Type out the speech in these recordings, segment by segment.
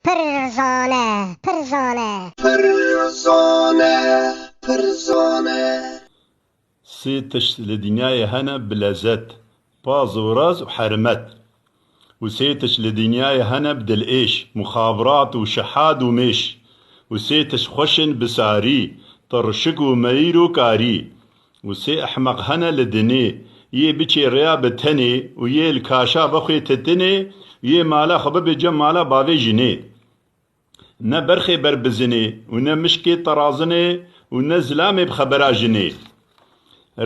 Pir zane, pir zane. Pir zane, pir zane. Sê tişt li dinyayê hene bi lezet, paz û raz û hermet. Û sê tişt li dinyayê hene bi dilêş, muxabirat û şihat û mêş. Û sê tişt xweş in bi sarî, tirşik û meyîr û karî. Û sê ehmeq hene li dinê, yê biçê rêya bi tenê û yê li kaşa bixwê titinê û yê mala xwe bibê cem mala bavê jinê. Ne berxê ber bi zinê û ne mişkê terazinê û ne zilamê bi xebera jinê.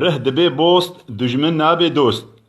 Rih dibê bost, dujmin nabê dost.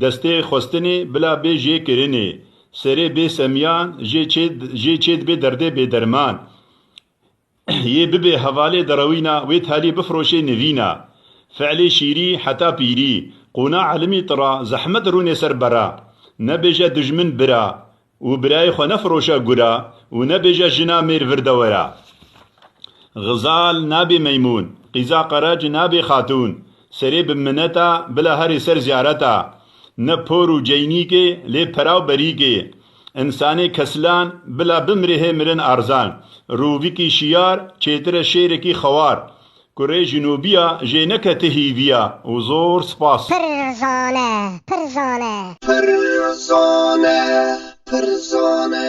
Destê xwestinê bila bê jê kirinê, serê bê semiyan jê çê jê çê dibê derdê bêderman yê bibê hevalê derewîna wê telî bifiroşê nivîna. Fiilê şîrî heta pîrî, qûna elimî tira zehmet rûnê ser bera, nebêje dijmin bira, Û birayê xwe nefiroşe gura û nebêje jina mêr vir de were. Xizal nabê meymûn, qîza qerec nabê xatûn, serê bi mineta bila herê ser ziyareta. Ne por û ceynîkê lê pera û berîkê. Însanê kesilan bila bimrê hê mirin arzan. Rûvikî şiyar çêtir e şêrekî xewar. Kurê jinûbîya jê neke ti hîvîya û zor spas. Pir zane, pir zane. Pir zane, pir zane.